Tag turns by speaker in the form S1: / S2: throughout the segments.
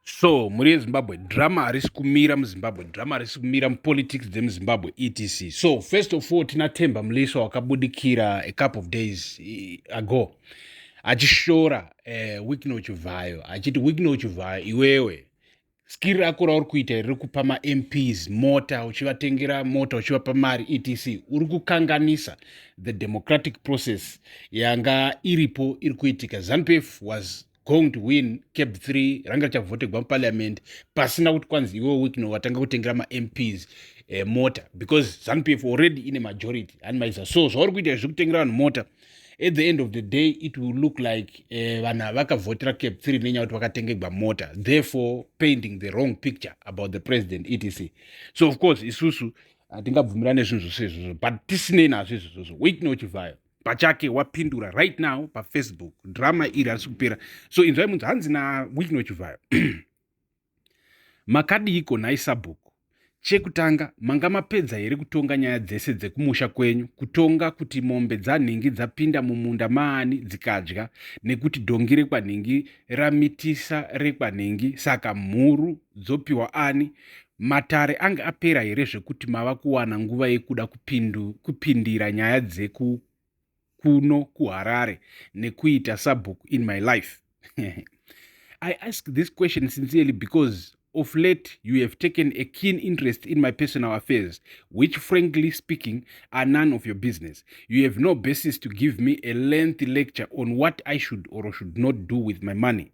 S1: so mhuri yezimbabwe drama harisi kumira muzimbabwe drama harisi kumira mupolitics dzemuzimbabwe etc so first of all tina temba muliswa wakabudikira a couple of days eh, ago achishora uh, eh, wikno chivhayo achiti wikno chivhayo iwewe skiri rako rauri kuita riri kupa mamps mota uchivatengera mota uchivapa mari etc uri kukanganisa the democratic process yanga iripo iri kuitika zanupf was going to win cap 3 ranga richavhotegwa muparliament pasina kuti kwanzi iwe wikno watanga kutengera mamps eh, mota because zanupf already ine majority hanimaiza so zvauri kuita izvi kutengera vanhu mota at the end of the day it will look like eh, vanhu uh, vakavhotera cap 3 nenyaya kuti vakatengegwa mota therefore painting the wrong picture about the president etc so of course isusu hatingabvumirane zvinhu zvose izvozvo but tisinei nazvo izvozvo wikno chivhayo pachake wapindura right now pafacebook drama iri harisi kupera so inzvai munzi hanzi nawickno chivhayo makadiiko nhai sabhuku chekutanga manga mapedza here kutonga nyaya dzese dzekumusha kwenyu kutonga kuti mombe dzanhingi dzapinda mumunda maani dzikadya nekuti dhongi rekwanhingi ramitisa rekwanhingi saka mhuru dzopiwa ani Matare ange apera here zvekuti mava kuwana nguva yekuda kupindu, kupindira nyaya dzeku kuno kuharare nekuita sabhuku in my life i ask this question sincerely because of late you have taken a keen interest in my personal affairs which frankly speaking are none of your business you have no basis to give me a lengthy lecture on what i should or should not do with my money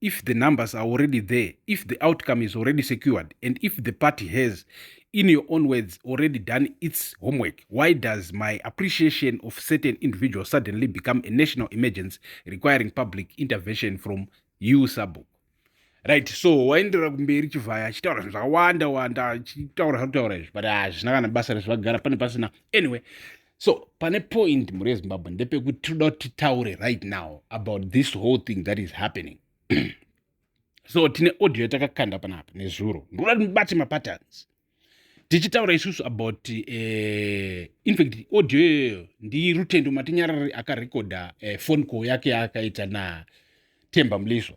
S1: if the numbers are already there if the outcome is already secured and if the party has in your own words already done its homework why does my appreciation of certain individuals suddenly become a national emergency requiring public intervention from you sabuk right so waenderera kumberi chivhaya achitaura zvinhu zvakawanda wanda achitaura zvakutaura izvi but hazvina kana basa rezvagara pane pasina anyway so pane point mhuri yezimbabwe ndepekuti tinoda kuti titaure right now about this whole thing that is happening so tine audio yatakakanda panapa nezuro ndoda kuti mubate mapatterns tichitaura isusu about uh, in fact audio iyoyo ndirutendo matinyarari akarekodha uh, eh, phone call yake yaakaita natemba mliswa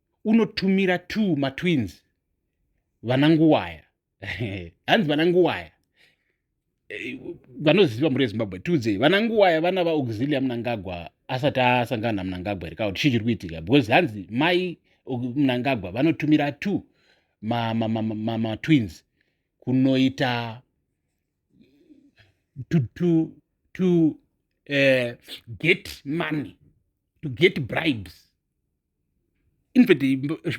S1: unotumira two matwins vana nguwaya hanzi vana nguwaya eh, vanoziva mhuri yezimbabwe tiudzei vana nguwaya vana vaauxilia munangagwa asati asangana namunangagwa here kauti chii chiri kuitika because hanzi mai munangagwa vanotumira two matwins kunoita to, to, to uh, get money to get bribes infact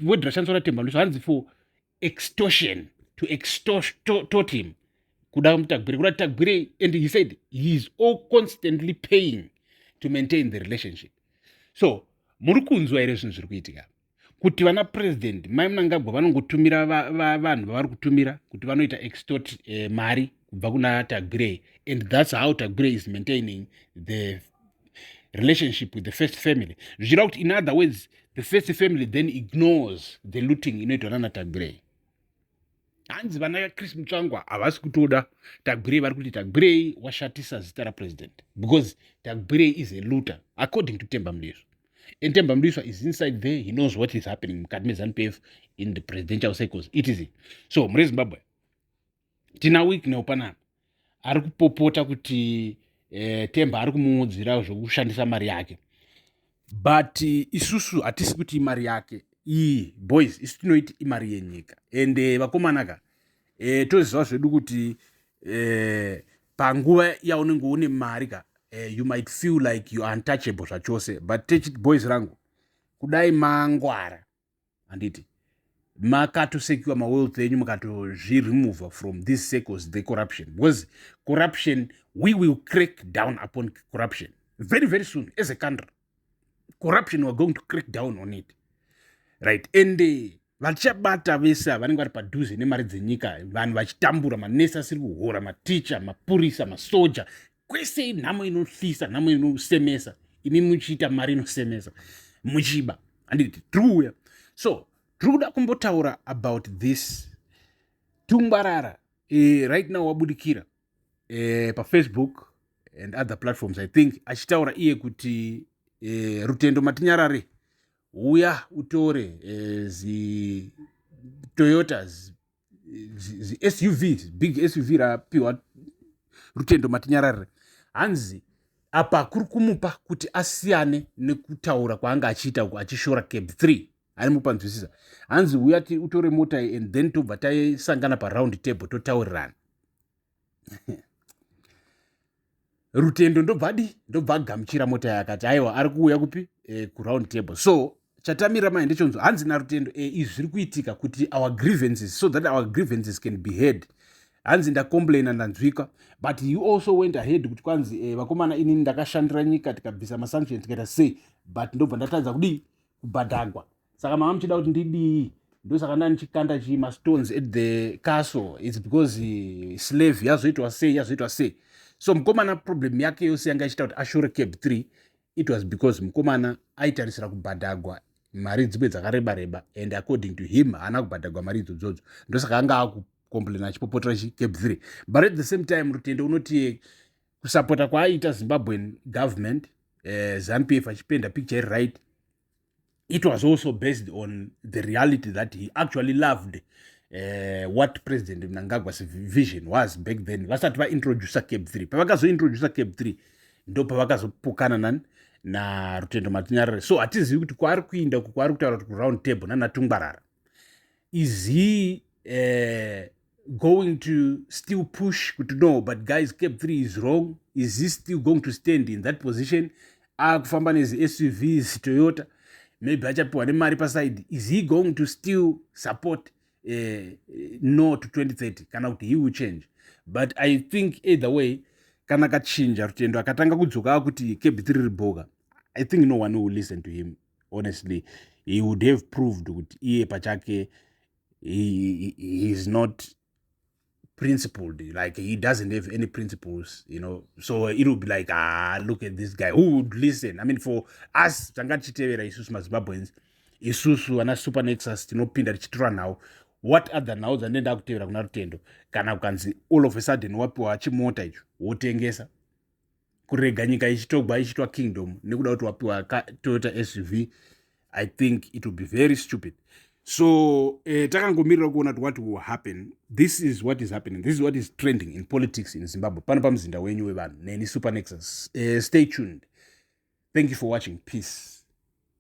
S1: word rashandiswa natemba mliswa hanzi for extortion to extort him kuda mutagwire kuda tagwire and he said he is all constantly paying to maintain the relationship so muri kunzwa here zvinhu zviri kuitika kuti vana president mai munangagwa vanongotumira vanhu vavari kutumira kuti vanoita extort eh, mari kubva kuna tagre and thats how tagre is maintaining the relationship with the first family zvichira kuti in other words the first family then ignores the looting inoitwa nana tagre hanzi vana chris mutsvangwa havasi kutoda tagre vari kuti tagre washatisa zita rapresident because tagre is a looter according to temba mudizvo and temba mudiswa is inside there he knows what is happening mukati mezanu pf in the presidential cycles etc so mure zimbabwe tina wicknel panapa ari kupopota kuti eh, temba ari kumuudzira zvekushandisa mari yake but eh, isusu hatisi kuti imari yake iyi boys isu tinoiti imari yenyika and eh, vakomanaka eh, toziva zvedu kuti eh, panguva yaunenge une mari ka eh, you might feel like you untouchable zvachose but techit boys rangu kudai mangwara handiti makatosekiwa mawealth enyu mukatozviremova from these circles the corruption because corruption we will crack down upon corruption very very soon as a country corruption weare going to crack down on it right and eh, vachabata vese ava vanenge vari padhuze nemari dzenyika vanhu vachitambura manesi asiri kuhora maticha mapurisa masoja kwese inhamo inohlisa nhamo inosemesa imi muchiita mari inosemesa muchiba handiti tiri kuuya so tiri kuda kumbotaura about this tungwarara e, right now wabudikira e, pafacebook and other platforms i think achitaura iye kuti e, rutendo matinyarare uya utore e, zitoyotas zisuv big suv rapiwa rutendo matinyararire hanzi apa kuri kumupa kuti asiyane nekutaura kwaanga achiita uku achishora cab 3 aimupanzwisisa hanzi uya utore mota and then tobva taisangana paround table totaurirana rutendo ndobva di ndobva agamuchira mota yakati aiwa ari kuuya kupi e, kuround table so chatamira mai ndechonzwa hanzi narutendo e, izvi zviri kuitika kuti our grievances so that our grievances can be heard hanzi ndacomplaina ndanzwika but you also went ahead kuti kwanzi e, vakomana inini ndakashandira nyika tikabvisa masanction tikaita sei but ndobva ndatadza kudii kubhadhagwa saka mama muchida kuti ndidii ndosaka ndandichikanda chii mastones at the castle its because eh, slave yazoitwa sei yazoitwa sei so mukomana problem yake yose yanga ichiita kuti ashore cab three it was because mukomana aitarisira kubhadhagwa mari dzimwe dzakareba reba and according to him haana kubhadhagwa mari idzodzodzo ndosaka anga akucomplaina achipopotera chicab three but at the same time rutende unoti kusapota kwaaiita zimbabwean government eh, zampf achipenda picture iri right it was also based on the reality that he actually loved uh, what president mnangagwa's vision was back then vasati vaintroducer cape three pavakazointroducer cape three ndo pavakazopokana nani narutendo matinyarare so hatizivi kuti kwaari kuinda uku kwaari kutaura kuti kuround table nanatungwarara is he uh, going to still push kuti no but guys cap 3 is wrong is he still going to stand in that position akufamba nezisuv zitoyota maybe achapiwa nemari paside is he going to still support uh, no to 2030 kana kuti he will change but i think either way kana kachinja rutendo akatanga kudzoka akuti cap 3 riri boga i think no one will listen to him honestly he would have proved kuti iye pachake he, he, he's not principled like he doesn't have any principles you know so it will be like ah look at this guy who would listen i mean for us tanga tichitevera isusu mazimbabweans isusu vana super nexus tinopinda tichitora nhau what other nhau dzanee ndakutevera kuna rutendo kana kukanzi all of a sudden wapiwa chimota icho wotengesa kurega nyika ichitogwa ichiitwa kingdom nekuda kuti wapiwa toyota suv i think it will be very stupid so eh, takangomirira kuona kuti what will happen this is what is happening this is what is trending in politics in zimbabwe pano pamuzinda wenyu wevanhu neni supernexus eh, stay tuned thank you for watching peace